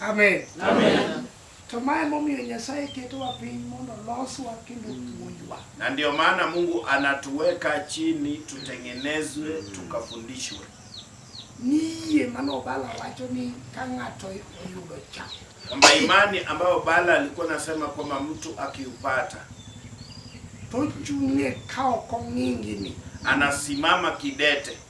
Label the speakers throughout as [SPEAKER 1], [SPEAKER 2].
[SPEAKER 1] Amen.
[SPEAKER 2] Amen. To
[SPEAKER 1] mae momiyo
[SPEAKER 2] Nyasaye ketowa piny mondo loswa kendo puonjwa. Na ndio maana
[SPEAKER 1] Mungu anatuweka chini tutengenezwe, tukafundishwe.
[SPEAKER 2] Niye mano Bala wacho ni ka ng'ato oyudo cha. Kwamba imani
[SPEAKER 1] ambayo Bala alikuwa anasema kwamba mtu akiupata tochung'e
[SPEAKER 2] ka ok ong'ingini, anasimama
[SPEAKER 1] kidete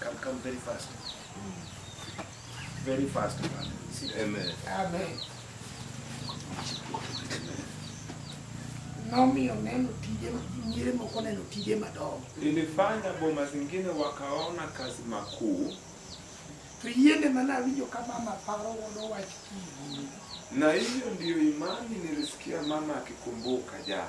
[SPEAKER 1] Come, come very fast. Very fast, man. Amen. Amen.
[SPEAKER 2] Nomiyo neno tije nyire moko neno tije madongo. Ilifanya boma
[SPEAKER 3] zingine wakaona kazi makuu. To
[SPEAKER 2] yiende mana winjo ka mama paro wono wach kii. Na hiyo
[SPEAKER 3] ndiyo imani nilisikia mama akikumbuka jana.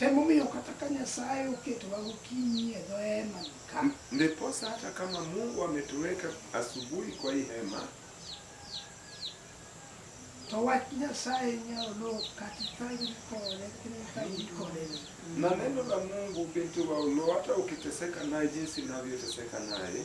[SPEAKER 2] Emomiyo kata ka Nyasaye oketowa gokinyi e dho hema ka. Ndiposa hata
[SPEAKER 3] kama Mungu ametuweka asubuhi kwa hii hema.
[SPEAKER 2] To wach Nyasaye nyalo kata ka ikore kata ka ikore. Na
[SPEAKER 3] neno la Mungu binti wa Ulo hata ukiteseka naye jinsi navyoteseka naye.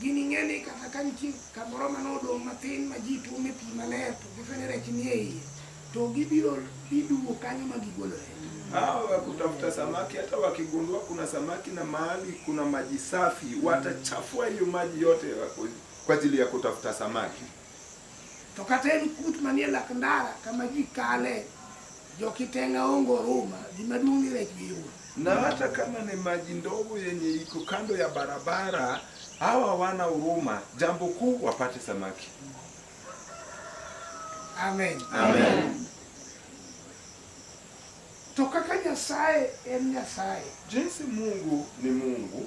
[SPEAKER 2] Gining'e ni kata ka nitie kamoro ma nodong' matin ma ji tuome pi maler to gifwe ni rech nie iye, to gibiro giduwo kanyo ma gigolore. Hawa wa
[SPEAKER 3] kutafuta samaki, hata wakigundua kuna samaki na mahali kuna maji safi, watachafua hiyo maji yote ya ku- kwa ajili ya kutafuta samaki. To
[SPEAKER 2] kata en kut manie lak ndara kama ji kale jokitenga ongo ruma gima duong' ni rech giumo. Na hata
[SPEAKER 3] kama ni maji ndogo yenye iko kando ya barabara, hawa wana huruma, jambo kuu wapate samaki.
[SPEAKER 2] Amen. Amen. To kaka Nyasaye en Nyasaye, Jinsi Mungu
[SPEAKER 3] ni Mungu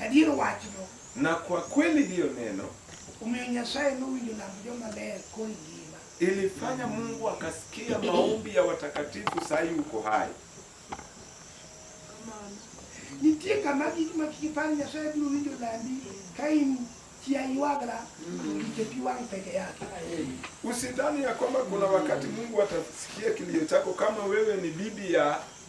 [SPEAKER 2] Adier wachno. Na kwa kweli
[SPEAKER 3] hiyo neno. Omiyo Nyasaye
[SPEAKER 2] nowinjo lamb joma ler koi ngima. Ilifanya
[SPEAKER 3] Mungu akasikia maombi ya watakatifu saa hii uko hai.
[SPEAKER 2] Nitie kama gik ma kik ipar Nyasaye biro winjo lambi ka in chia iwagra kichepiwang peke yake. Usidhani
[SPEAKER 3] ya kwamba kuna wakati Mungu atasikia kilio chako kama wewe ni bibi ya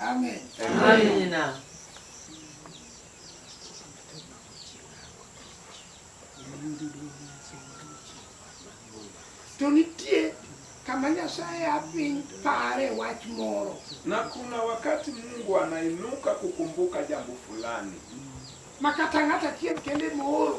[SPEAKER 2] Amen. Amina. To nitie kama Nyasaye apiny pare wach moro, na kuna
[SPEAKER 3] wakati Mungu anainuka kukumbuka jambo fulani, ma kata
[SPEAKER 2] ng'at achiel kende mooro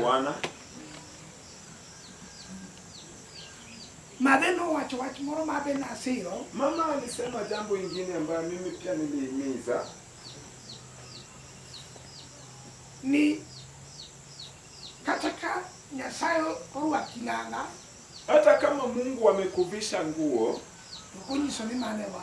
[SPEAKER 4] Bwana
[SPEAKER 2] Madhe nowacho wach moro ma be nasiro. Mama alisema
[SPEAKER 3] jambo ingine ambayo mimi pia nilihimiza
[SPEAKER 2] ni kata ka Nyasaye orwaki nanga, hata kama
[SPEAKER 3] Mungu amekuvisha nguo, ukunyiso ni
[SPEAKER 2] mane wa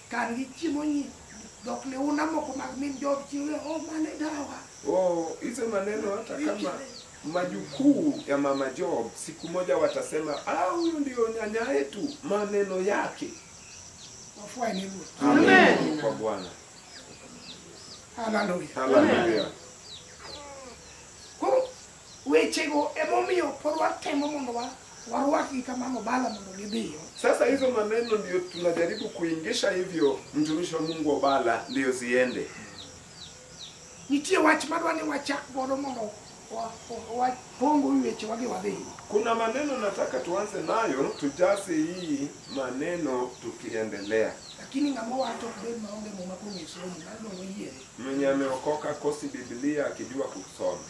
[SPEAKER 2] Kan gi chiemo nyi dhok liuna moko mag min jood chi we oh mane dawa. Oh, hizo maneno
[SPEAKER 3] hata kama majukuu ya mama Job siku moja watasema ah, huyu ndio nyanya yetu, maneno yake. Wafuai
[SPEAKER 2] ni Mungu. Amen kwa
[SPEAKER 4] Bwana.
[SPEAKER 2] Haleluya. Haleluya. Wechego emomiyo pod watemo mondo wa warwaki kama mabala mondo gidhiyo. Sasa hizo maneno
[SPEAKER 3] ndio tunajaribu kuingisha hivyo mtumishi wa Mungu Obala ndio ziende.
[SPEAKER 2] Nitie wach madwa ni wachak godo mondo wapongo weche wage wadhi. Kuna maneno
[SPEAKER 3] nataka tuanze nayo tujase hii maneno tukiendelea. Lakini ng'ama
[SPEAKER 2] wacho be maonge muma kong'esomo nalo oyiere. Mwenye ameokoka
[SPEAKER 3] kosi Biblia akijua kusoma.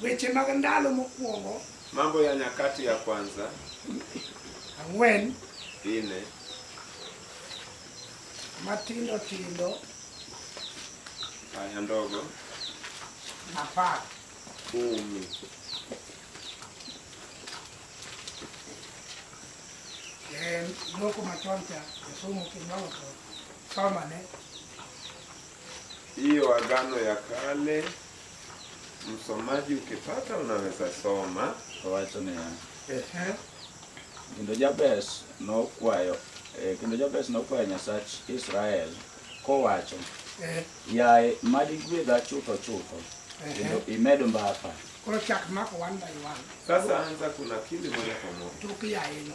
[SPEAKER 2] Weche mag ndalo mokwongo. Mambo ya Nyakati
[SPEAKER 3] ya Kwanza
[SPEAKER 2] ang'wen ine matindo tindo
[SPEAKER 3] aya ndogo
[SPEAKER 2] apar
[SPEAKER 3] kumi
[SPEAKER 2] loko machon cha jasomo kinyalo to somane hiyo
[SPEAKER 3] Agano ya Kale msomaji ukipata unaweza soma wacho ni ehe
[SPEAKER 5] kendo Jabes nokwayo eh, kendo Jabes nokwayo Nyasach Israel kowacho eh. yaye mad igwedha chutho chutho kendo imed mbaka koro chak mako
[SPEAKER 2] one by one sasa anza kuna
[SPEAKER 3] kindi moja kwa moja tukiyaye no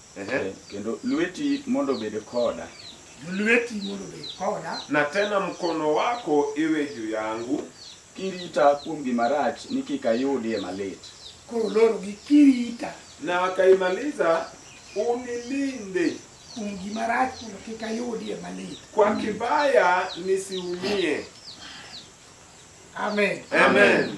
[SPEAKER 2] Ehe. Kendo
[SPEAKER 5] lweti mondo obed koda. Lweti
[SPEAKER 2] mondo obed koda. Na tena mkono
[SPEAKER 3] wako iwe juu yangu. Kirita
[SPEAKER 5] kuom gima rach ni kik ayudie malit. Koro lorogi
[SPEAKER 2] kirita. Na akaimaliza
[SPEAKER 3] unilinde. Kuom gima
[SPEAKER 2] rach mondo kik ayudie malit. Kwa kibaya
[SPEAKER 3] nisiumie.
[SPEAKER 2] Amen. Amen.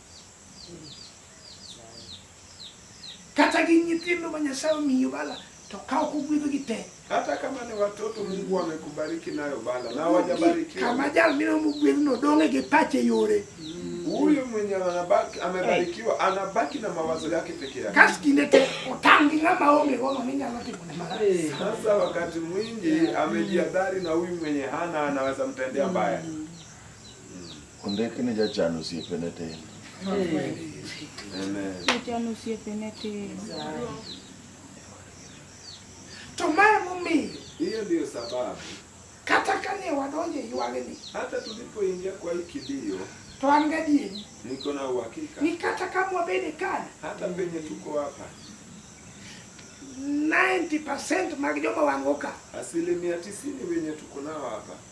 [SPEAKER 2] Kata gi nyithindo ma Nyasaye omiyo bala to ka ok ugwedhogi te. Hata kama ni
[SPEAKER 3] watoto Mungu amekubariki nayo bala na hawajabarikiwa. Kama jal mine
[SPEAKER 2] omogwedhno dong'e gi pache yore. Huyu mwenye
[SPEAKER 3] anabaki amebarikiwa anabaki na mawazo yake peke yake. Kas kinde te otang'
[SPEAKER 2] gi ng'ama onge gono ni nyalo timo ne marach. Sasa wakati
[SPEAKER 3] mwingi amejihadhari na huyu mwenye hana anaweza mtendea mbaya.
[SPEAKER 6] Ondik ni jachan osiepene tin. Jachan
[SPEAKER 3] osiepene
[SPEAKER 7] tin.
[SPEAKER 2] To ma emomiyo. Hiyo ndio
[SPEAKER 3] sababu. Kata
[SPEAKER 2] kane wadonjo e ywagni. Hata tulipoingia
[SPEAKER 3] kwa hii kilio. To an gadieri.
[SPEAKER 2] Niko na
[SPEAKER 3] uhakika. Ni kata kama wabede
[SPEAKER 2] kana. Hata penye tuko
[SPEAKER 3] hapa.
[SPEAKER 2] 90% mag joma wangoka. Asilimia 90
[SPEAKER 3] wenye tuko nao hapa.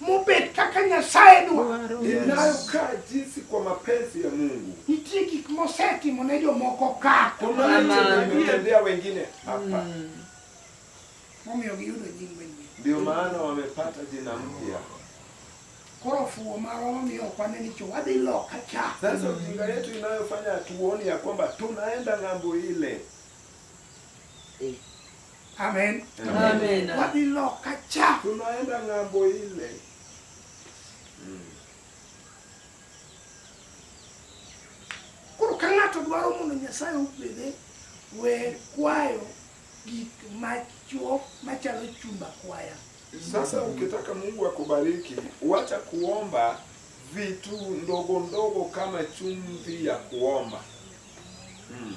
[SPEAKER 3] mubet
[SPEAKER 2] kaka Nyasaye dwaro. Inayo ka
[SPEAKER 3] jinsi kwa mapenzi ya Mungu. Nitie gik
[SPEAKER 2] mosetimo ne jomoko ka. Kunaitendea
[SPEAKER 3] wengine hapa. Mm.
[SPEAKER 2] Momiyo giyudo nying manyien. Ndio maana
[SPEAKER 3] wamepata jina mpya.
[SPEAKER 2] Koro fuwo marwa mamiyo ok wane ni wadhi loka cha. Sasa ujinga yetu
[SPEAKER 3] inayofanya tuoni ya kwamba tunaenda ng'ambo ile. Eh.
[SPEAKER 2] Amen. Amen.
[SPEAKER 4] Waliloka
[SPEAKER 2] cha. Tunaenda ng'ambo
[SPEAKER 3] ile. Mm.
[SPEAKER 2] Koro ka ng'ato dwaro mondo Nyasaye obede we kwayo gik machuo machalo chumba kwaya. Sasa ukitaka
[SPEAKER 3] Mungu akubariki, wacha kuomba vitu ndogo ndogo kama chumvi ya kuomba. Mm.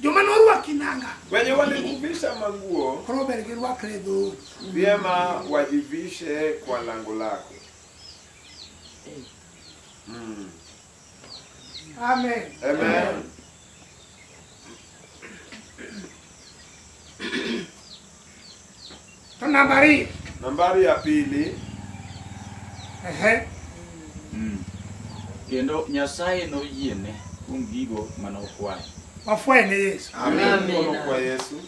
[SPEAKER 2] joma norwaki nanga wenye walikuvisha
[SPEAKER 3] manguo koro ber girwakre
[SPEAKER 2] e dhoot vyema
[SPEAKER 3] wajivishe kwa lango lako
[SPEAKER 2] mm. amen amen To nambari. Nambari ya
[SPEAKER 3] pili. Ehe. Mm.
[SPEAKER 5] Kendo Nyasaye noyiene kuom gigo mane okwayo. Wafwaye ne
[SPEAKER 2] Yesu. Amen. Kwa
[SPEAKER 3] Yesu.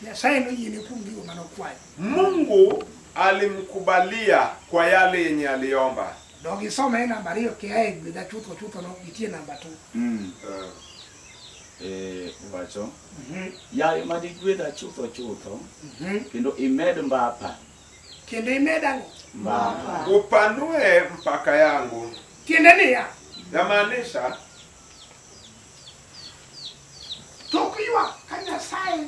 [SPEAKER 3] Nyasaye noyiene
[SPEAKER 2] kuom gigo mane okwayo. Mungu
[SPEAKER 3] alimkubalia kwa yale yenye aliomba. Dogisome
[SPEAKER 2] nambari hiyo kiae gwedha chutho chutho no itie namba tu. Mm. Uh. eh, wacho mhm.
[SPEAKER 5] yaye ma digwedha chutho chutho mhm. kendo imed mbapa kendo
[SPEAKER 2] imed ang'o mbapa
[SPEAKER 5] upanue
[SPEAKER 3] mpaka yangu tiende niya
[SPEAKER 2] yamaanisha tok ywak ka nyasaye